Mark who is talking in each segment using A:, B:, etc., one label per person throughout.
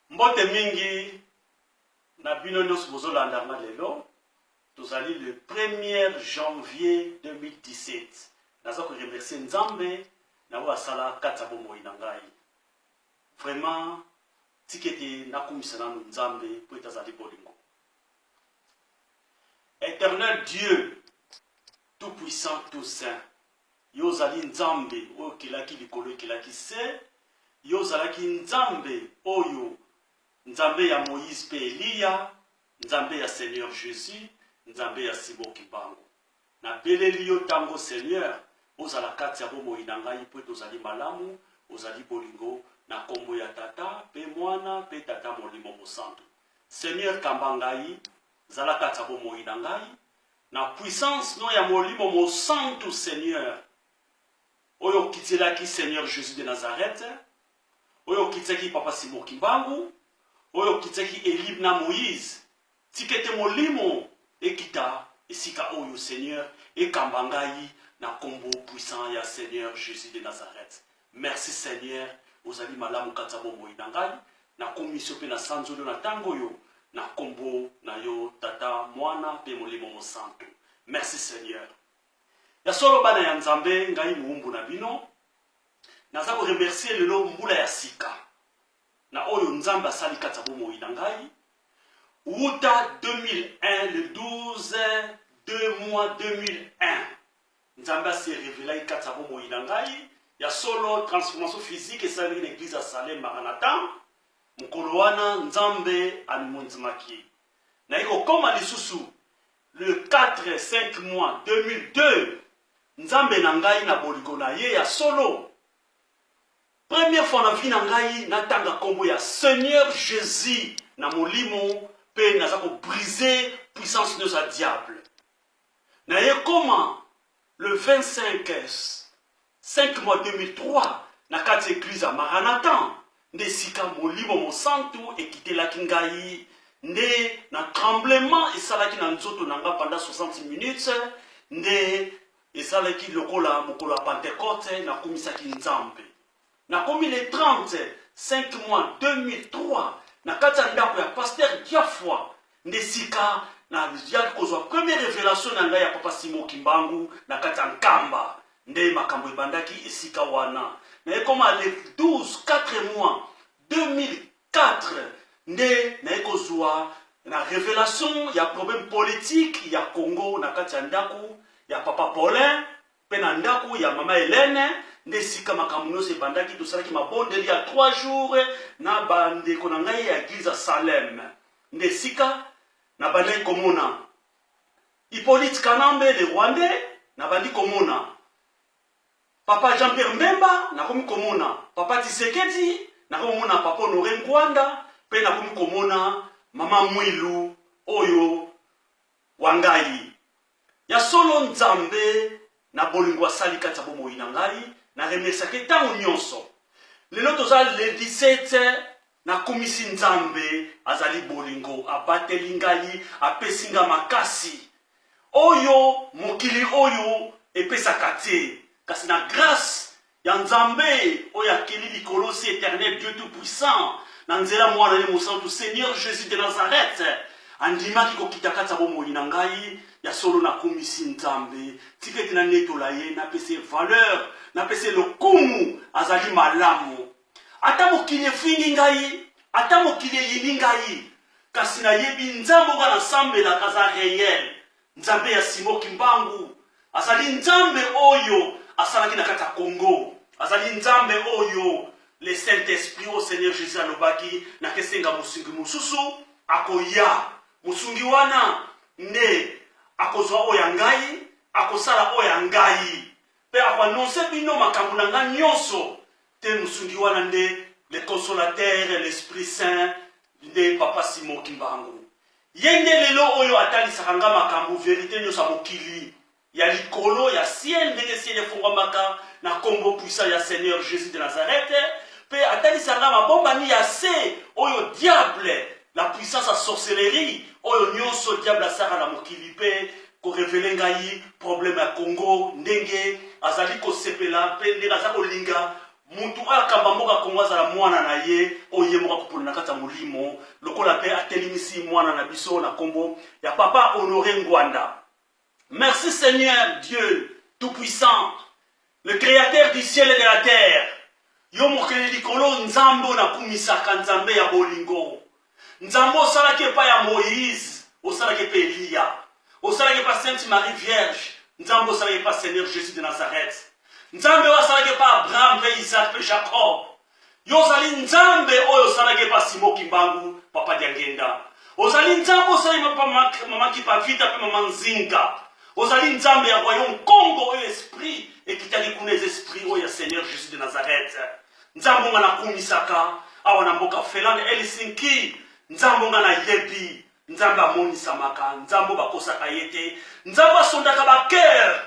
A: mbote mingi na bino nyonso bozolanda nga lelo tozali le 1er janvier 2017 naza koremercie nzambe na oyo asala kati ya bomoi na ngai vraiment tika ete nakumisa nano nzambe mpo ete azali bolingo éternel dieu tout puissant tout saint Yo ozali Nzambe oyo okelaki likolo, ekelaki se. Yo ozalaki Nzambe oyo, Nzambe ya Moïse mpe Eliya, Nzambe ya Seigneur Jesus, Nzambe ya Simon Kimbangu. Nabeleli yo tango, Seigneur, ozala kati ya bomoi na ngai, mpo ete ozali malamu, ozali bolingo, na kombo ya Tata mpe Mwana mpe Tata Molimo Mosantu. Seigneur, kamba ngai, zala kati ya bomoi na ngai, Na puissance no ya molimo mosantu seigneur oyo okitielaki seigneur Jesus de Nazareth oyo okitiaki papa Simon Kimbangu oyo okitiaki Elib na Moïse tika ete molimo ekita esika oyo seigneur ekamba ngai na kombo puissant ya seigneur Jesus de Nazareth Merci seigneur ozali malamu kati ya bomoi na ngai nakumisi yo mpe nasanzoli yo na ntango oyo na nkombo na yo tata mwana mpe molimo mosantu merci seigneur ya solo bana ya nzambe ngai moumbu na bino naza koremercie lelo mbula ya sika na oyo nzambe asali kati ya bomoi na ngai wuta 2001 le 12 2 mois 2001 Nzambe a se revelaki kati ya bomoi na ngai. Ya solo, transformation physique esalemaki na eglise ya Salem Maranatha. Mokolo wana, Nzambe amimonzimaki. Naye kokoma lisusu le 4 5 mois 2002 nzambe na ngai na bolingo na ye ya solo première fois na vie na ngai natanga nkombo ya seigneur jésus na molimo mpe naza kobrise puissance nyonso ya diable Na ye koma le 25 5 mois 2003 na kati eglise ya Maranathan nde sika molimo mosantu ekitelaki ngai nde na tremblement esalaki na nzoto na nga pendant 60 minutes nde ezalaki lokola mokolo ya Pentecote nakumisaki Nzambe. Nakomi le 30 5 mois 2003 na kati ya ndako ya Pasteur Giafwa nde sika na yaki kozwa premier revelation na ngai ya Papa Simon Kimbangu na kati ya Nkamba nde makambo ebandaki esika wana na ekoma le 12 4 mois 2004 nde naye kozwa na revelation ya problème politique ya Congo na kati ya ndako ya Papa Paulin Mpe na ndako ya mama Helene nde esika makambo nyonso ebandaki. Tosalaki mabondeli ya 3 jours na bandeko na ngai ya eglise ya Salem, nde esika nabandaki komona Hippolyte Kanambe le Rwandais, nabandi komona papa Jean-Pierre Mbemba, nakomi komona papa Tshisekedi, nakomi komona papa Honore Ngwanda, mpe nakomi komona mama Mwilu oyo Wa ngai. Ya solo Nzambe na bolingo asali kati ya bomoi na ngai, na remerciaka ye ntango nyonso. Lelo toza lundi 7 nakumisi Nzambe, azali bolingo, abateli ngai, apesi ngai makasi oyo mokili oyo epesaka te, kasi na grace ya Nzambe oyo akeli likolo si eternel Dieu tout puissant na nzela mwana ye mosantu Seigneur Jesus de Nazareth andimaki kokita kati ya bomoi na ngai ya solo nakumisi Nzambe tika ete nanetola ye napesa ye valeur napesa ye lokumu azali malamu ata mokili efingi ngai ata mokili eyini ngai kasi nayebi Nzambe oyo nasambelaka aza reyel Nzambe ya Simon Kimbangu azali Nzambe oyo asalaki na kati ya Congo, azali Nzambe oyo le Saint Esprit au Seigneur Jésus alobaki na kesenga mosungi mosusu akoya. Mosungi wana nde akozwa oyo ya ngai, akosala oyo ya ngai, mpe akoanonse bino makambo na ngai nyonso. te musungi wana nde le consolateur l'esprit saint nde papa simon kimbangu ye nde lelo oyo atalisaka nga makambo verite nyonso ya mokili ya likolo ya ciel ndenge ciel efongwamaka na nkombo puissant ya seigneur jésus de nazareth mpe atalisa nga mabombami ya se oyo diable la puissance ya sorcellerie oyo nyonso diable asaka na mokili mpe ko revele ngai problème ya Congo ndenge azali kosepela mpe ndenge aza kolinga mutu oyo akamba mboka Congo azala mwana na ye oyo ye moko akopona na kati ya molimo lokola mpe atelemisi mwana na biso na nkombo ya papa Honore Ngwanda. Merci Seigneur Dieu tout puissant Le createur du ciel et de la terre yo mokeli likolo nzambe oyo nakumisaka nzambe ya bolingo nzambe osalaki epai ya moïse osalaki epai eliya osalaki epai sainte marie vierge nzambe osalaki epai seigneur jésus de nazareth nzambe oyo asalaki epai abraham mpe isaac mpe jacob Yo ozali Nzambe oyo osalaki epa Simo Kimbangu, Papa Diangenda. Ozali Nzambe osali mapa Mama Kipavita mpe Mama Nzinga. Ozali Nzambe ya Royaume Congo oyo esprit ekitaki kuna eza esprit oyo ya Seigneur Jésus de Nazareth. Nzambe nga nakumisaka awa na mboka Finlande Helsinki. Nzambe nga nayebi. Nzambe amonisamaka, Nzambe bakosaka ye te. Nzambe asondaka ba cœur.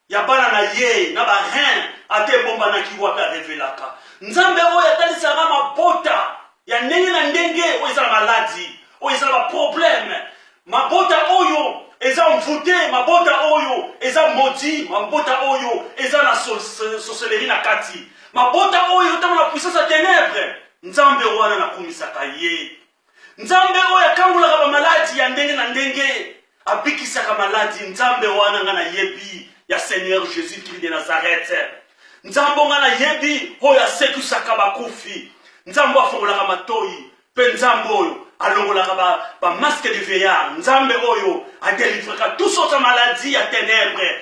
A: ya bana na ye na ba reine ata ebombanaki wapi arevelaka nzambe oyo atalisaka mabota ya ndenge na ndenge oyo eza na maladi oyo eza na baprobleme mabota oyo eza mvute mabota oyo eza modi mabota oyo eza na soseleri na kati mabota oyo eotama na puissance ya tenebre nzambe wana nakumisaka ye Nzambe oyo akangolaka bamaladi ya ndenge na ndenge abikisaka maladi. Nzambe wana nga nayebi ya Seigneur Jesus Christ de Nazareth. Nzambe nga nayebi oyo asekwisaka bakufi. Nzambe afongolaka matoyi mpe Nzambe oyo alongolaka ba, ba masque de veillard. Nzambe oyo adelivraka tous autres maladies ya tenebre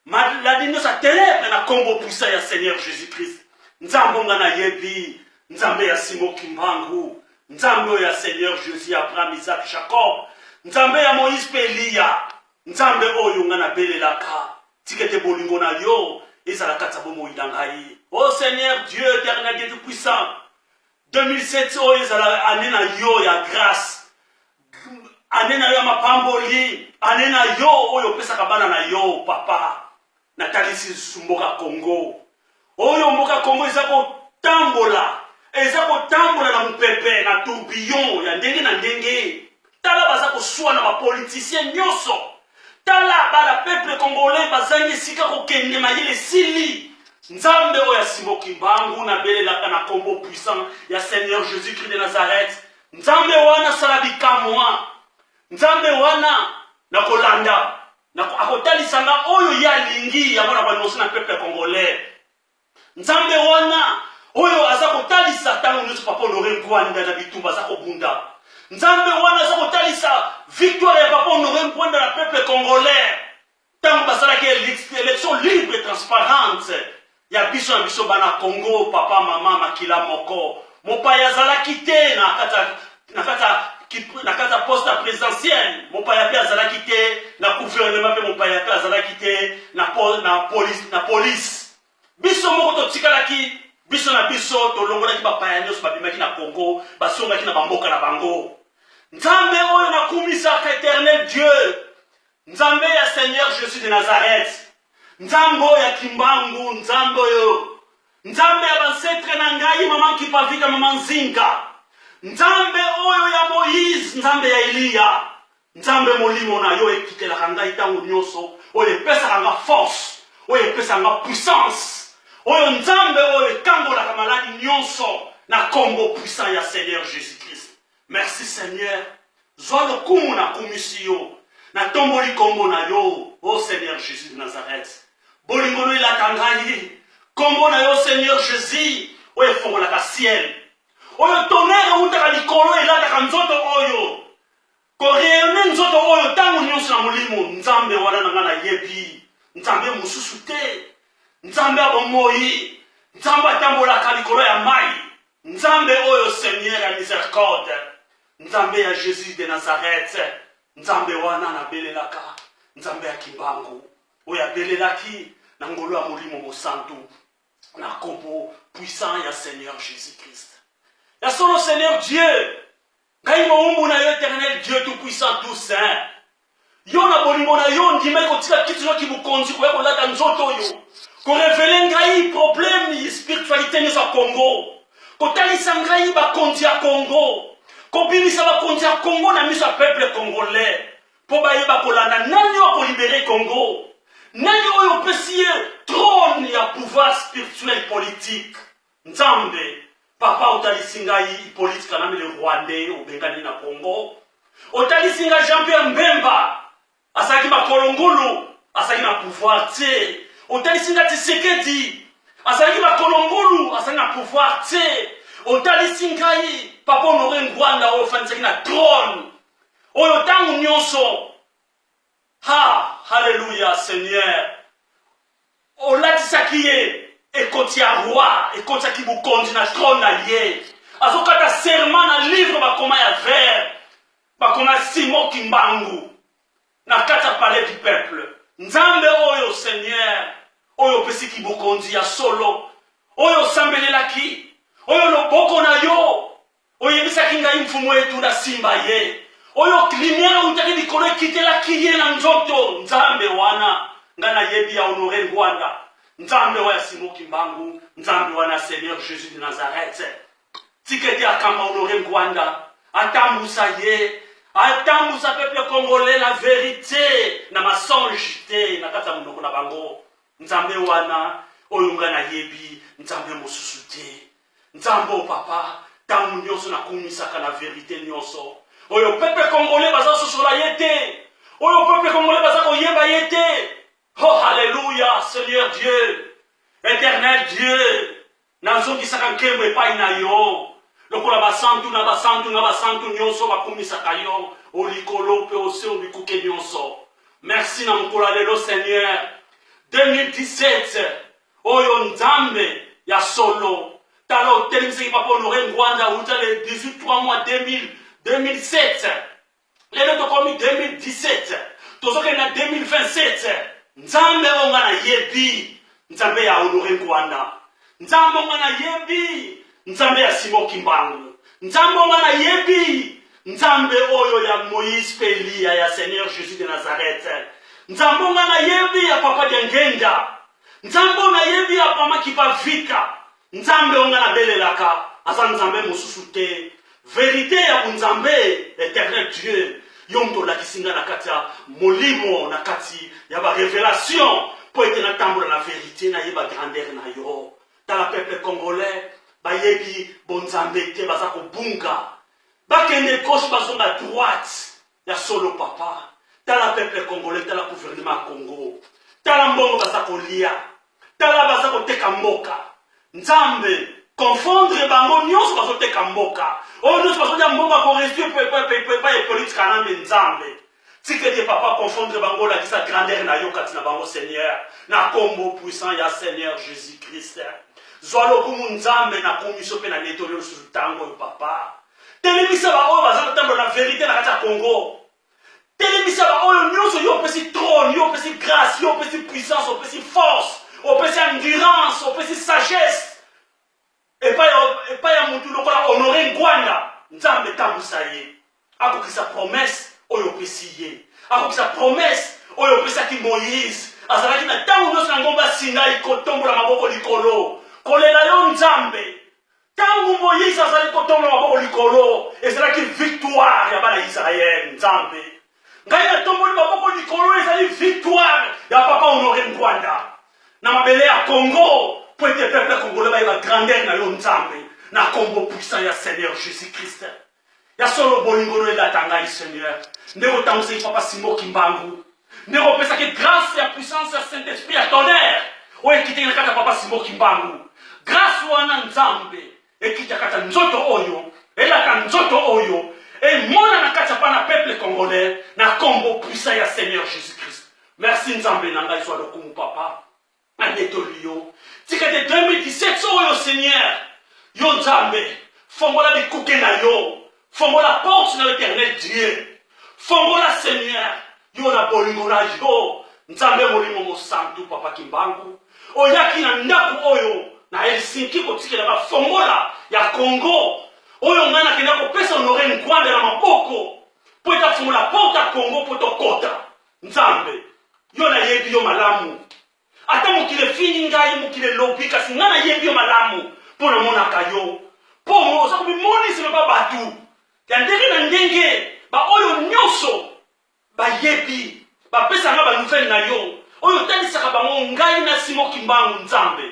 A: maladi nyonso ya tenèbre na nkombo puissant ya seigneur jésus christ nzambe onga nayebi nzambe ya simo kimbangu nzambe oyo ya seigneur jésus ya abraham isak jacob nzambe ya moïse mpe eliya nzambe oyo nga nabelelaka tika ete bolingo na yo ezala kati ya bomoi na ngai o oh seigneur dieu éternel dieu tout puissant 2007 oyo ezala ane na yo ya grace ane na yo ya mapamboli ane na yo oyo opesaka bana na yo papa natalisi mboka congo oyo mboka congo eza kotambola eza kotambola na mopepe na tourbillon ya ndenge na ndenge tala baza koswana ba politicien nyonso tala bana peuple congolais bazangi esika kokende mayele esili nzambe oyo asimo kimbangu nabelelaka na kombo puissant ya seigneur jésus christ de nazareth nzambe wana asala bikamwa nzambe wana na kolanda akotalisa nga oyo ye alingi yango na balimosi na peuple congolais Nzambe wana oyo aza kotalisa ntango nyonso papa honore ngwanda na bitumba aza kobunda nzambe wana aza kotalisa victoire ya papa honore ngwanda na peuple congolais ntango basalaki élection libre et transparente ya biso na biso bana congo papa mama makila moko mopaya azalaki te na kati na kati ya na kati ya poste ya présidentielle mopaya mpe azalaki te na gouvernement mpe mopaya mpe azalaki te na, pol, na, police, na police biso moko totikalaki biso na biso tolongolaki bapaya nyonso babimaki na congo basongaki na bamboka na bango nzambe oyo nakumisaka éternel dieu Nzambe ya Seigneur Jesus de Nazareth, Nzambe oyo ya Kimbangu, Nzambe oyo, Nzambe ya bansetre na ngai, mama Kipavita, mama Nzinga, Nzambe oyo ya Moïse, Nzambe ya Eliya, Nzambe molimo na yo ekitelaka ngai ntango nyonso, oyo epesaka nga force, oyo epesaka nga puissance, oyo Nzambe oyo ekangolaka maladi nyonso na nkombo puissant ya Seigneur Jesus-Christ. Merci Seigneur, zwa lokumu na kumisi yo, na tomboli kombo na yo, oh Seigneur Jesus de Nazareth. Bolingo no elaka ngai, kombo na yo Seigneur Jesus, oyo efongolaka ciel, oyo tonnerre eutaka likolo elataka nzoto oyo koreyone nzoto oyo ntango nyonso na molimo nzambe wana na ngai nayebi nzambe mosusu te nzambe ya bomoi nzambe atambolaka likolo ya mai Nzambe oyo seigneur ya misericorde nzambe ya jesus de nazareth nzambe wana nabelelaka nzambe ya kimbangu oyo abelelaki na ngolo ya molimo mosantu na nkombo puissant ya seigneur jésus christ ya solo seigneur dieu ngai mowumbu na yo eternel dieu tout puissant tout saint yo na bolingo na yo ondimaki kotika kiti noki bokonzi koya kolata nzoto oyo korevele ngai probleme spiritualité nyonso ya congo kotalisa ngai bakonzi ya congo kobimisa bakonzi ya congo na miso ya peuple congolais mpo bayeba kolanda nani oyo akolibere congo nani oyo opesi ye trone ya pouvoir spirituel politique Nzambe papa otalisi ngai Hippolyte Kanambe le Rwandais obengani na Congo otalisi ngai Jean Pierre Mbemba azalaki makolo ngulu azalaki na pouvoir te otalisi ngai Tshisekedi azalaki makolo ngulu azalaki na pouvoir te otalisi ngai papa Honore Ngwanda oyo ofandisaki na trône oyo ntango nyonso Haa haleluya seigneur olatisaki ye ekoti ya roi ekotisaki bokonzi na trone na ye azokata serment na livre bakoma ya vert bakoma simo kimbangu na kati ya palais du peuple nzambe oyo seigneur oyo opesi kibokonzi ya solo oyo osambelelaki oyo loboko na yo Oyebisaki ngai mfumu etu na simba ye oyo klimiere eutaki likolo ekitelaki ye na nzoto nzambe wana nga nayebi ya honore ngwanda nzambe wa ya simo kimbangu nzambe wana seigneur jésus de nazareth tika ete akamba honore ngwanda atambusa ye atambusa peuple congolais na verite na massange te na kati ya monoko na bango nzambe wana oyo nga nayebi nzambe mosusu te Nzambe o papa, tango nyonso na kumisaka na verite nyonso. Oyo pepe congolais baza sosola ye te. Oyo pepe congolais baza koyeba ye te. Oh haleluya Seigneur Dieu. Eternel Dieu. Nazongisaka nkembo epai na yo. Lokola basantu na basantu na basantu nyonso bakumisaka yo o likolo mpe o se o bikuke nyonso. Merci na mokolo ya lelo Seigneur. 2017 Oyo Nzambe ya solo. Tala otelemisaki papa Honore Ngwanda uta le 18 3 mois 2000 2007 lelo tokomi 2017 tozokende na 2027 nzambe oyo nga nayebi nzambe ya honore nkwanda nzambe oyo nga nayebi nzambe ya simo kimbangu nzambe oyo nga nayebi nzambe oyo ya moïse mpe eliya ya seigneur jésus de nazareth nzambe oyo nga nayebi ya papa diangenda Nzambe oyo nayebi apamaki pa vita. Nzambe oyo nga nabelelaka aza Nzambe mosusu te. Verite ya bonzambe eternel Dieu yo moto olakisi nga na kati ya molimo na kati ya ba revelation mpo ete natambola na verite nayeba grandeur na yo. Tala peuple congolais bayebi bonzambe te baza kobunga bakende gauche bazonga droite Ya solo papa, tala peuple congolais, tala gouvernement ya Congo, tala mbongo baza kolia, tala baza koteka mboka. Nzambe, confondre bango nyonso bazoteka mboka oyo nyonso bazolia mbongo ya koresiepa ye politika nambe nzambe tikete papa confondre bango olakisa grandeur na yo kati na bango seigneur na kombo puissant ya seigneur jésus christ zwa lokumu nzambe na komiso mpe na netoli yo lisusu ntango oyo papa telemisa baoyo baza kotambola na verite na kati ya congo telemisa baoyo nyonso yo opesi trone yo opesi grâce yo opesi puissance opesi force opesi endurance opesi sagesse epai ya motu lokola honore ngwanda nzambe etambwisa ye akokisa promese oyo opesi ye akokisa promese oyo opesaki moïse azalaki na ntango nyonso na ngomba sinai kotombola maboko likolo kolela yo nzambe Tango Moïse azali kotonga maboko likolo, ezalaki victoire ya bana Israël. Nzambe, ngai natomboli maboko likolo, ezali victoire ya papa Honore Ngwanda na mabele ya Congo, po ete peuple congolais bayeba grandeur na yo Nzambe, na kombo puissant ya Seigneur Jesus-Christ. Ya solo bolingo no elata ngai Seigneur. Ndenge otangisaki Papa Simon Kimbangu. Ndenge opesaki grâce ya puissance ya Saint-Esprit ya tonnerre. Oyo ekitaki na kati ya Papa Simon Kimbangu. Grâce wana Nzambe ekita kati ya nzoto oyo, elata nzoto oyo, emona na kati ya bana peuple congolais na kombo puissant ya Seigneur Jesus-Christ. Merci Nzambe na ngai zwa lokumu Papa. Banetoli yo. Tika te 2017 soko yo Seigneur. Yo Nzambe. Fongola bikuke na yo. Fongola porte na yo éternel Dieu. Fongola Seigneur. Yo na bolingo na yo. Nzambe molimo mosantu papa Kimbangu. Oyaki na ndako oyo na Helsinki kotikela bafongola ya Congo. Oyo ngai nakenda kopesa Honore Ngwanda na maboko. Po etafongola porte ya Congo po tokota. Nzambe, yo nayebi yo malamu. Ata mokili efingi ngai, mokili elobi, kasi ngai nayebi yo malamu, mpo namonaka yo. Mpo oza komimonisa loba bato ya ndenge na ndenge, baoyo nyonso bayebi, bapesa ngai banouvele na yo, oyo otalisaka bango ngai na Simo Kimbangu. Nzambe,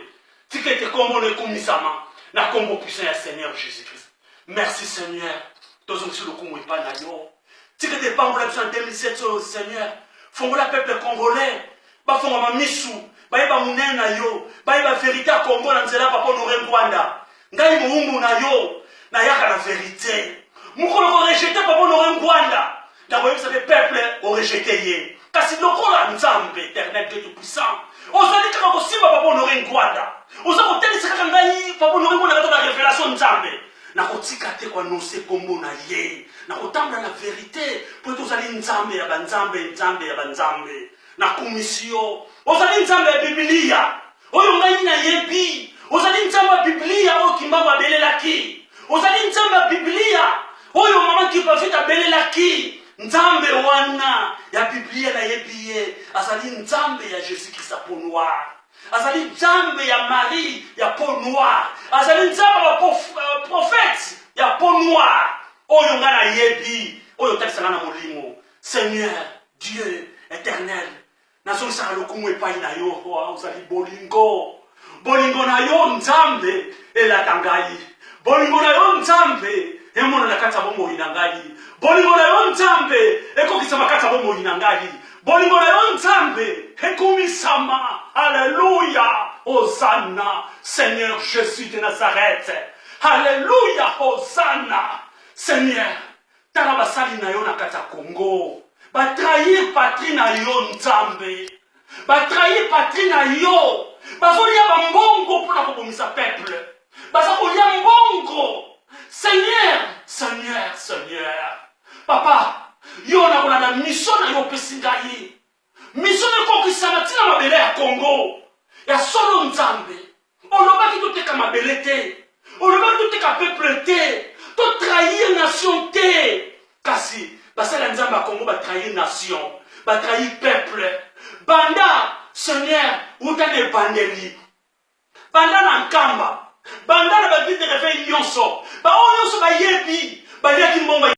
A: tika ete nkombo na ekumisama na nkombo puissant ya Seigneur Jesus-Christ. Merci Seigneur, tozongisi lokumu epai na yo. tika te epambola biso na 2007 oyo seigneur fongola peuple congolais bafongama misu bayeba monene na yo bayeba verite ya congo na nzela papa honore ngwanda ngai mowumbu na yo nayaka na verite mokolo korejete papa honore ngwanda nakoyebisa mpe peuple orejete ye kasi lokola nzambe eternel dieu tout puissant ozali kaka kosimba papa honore ngwanda oza kotalisa kaka ngai papa honore ngwanda kaka na revelation nzambe nakotika te koanonse nkombo na ye nakotambola na verite mpo ete ozali nzambe ya banzambe nzambe ya banzambe nakumisi yo ozali nzambe ya bibilia Oyo ngai nayebi, ozali Nzambe ya Biblia oyo Kimbangu abelelaki. Ozali Nzambe ya Biblia oyo mama Kipavita abelelaki. Nzambe wana ya Biblia nayebi ye, azali Nzambe ya Jesus Christ ya peau noire. Azali Nzambe ya Marie ya peau noire. Azali Nzambe ya euh, prophète ya peau noire. Oyo ngai nayebi, oyo otalisa ngai na molimo. Seigneur, Dieu éternel, nazongisaka lokumu epai na yo mpo ozali bolingo bolingo na yo nzambe elata ngai bolingo na yo nzambe emona na kati ya bomoi na ngai bolingo na yo nzambe ekokisama kati ya bomoi na ngai bolingo na yo nzambe ekumisama aleluya ozana seigneur jésus de nazareth aleluya ozana seigneur Tala basali na yo na kati ya Congo ba trahir patrie na yo Nzambe, ba trahir patrie na yo, bazolia ba mbongo mpo na kobomisa peuple, baza kolia mbongo. Seigneur, Seigneur, Seigneur, Papa, yo nakolanda mission na yo opesi ngai Mission ekokisama ti na mabele ya Congo. Ya solo Nzambe. Olobaki toteka mabele te. Olobaki toteka peuple te. To trahir nation te. Kasi basali ya Nzambe ya Congo ba trahir nation. Ba trahir peuple. Banda Seigneur uta na ebandeli. Banda na Nkamba. Banda na ba guide de reveil nyonso. Ba oyo nyonso bayebi baliaki mbongo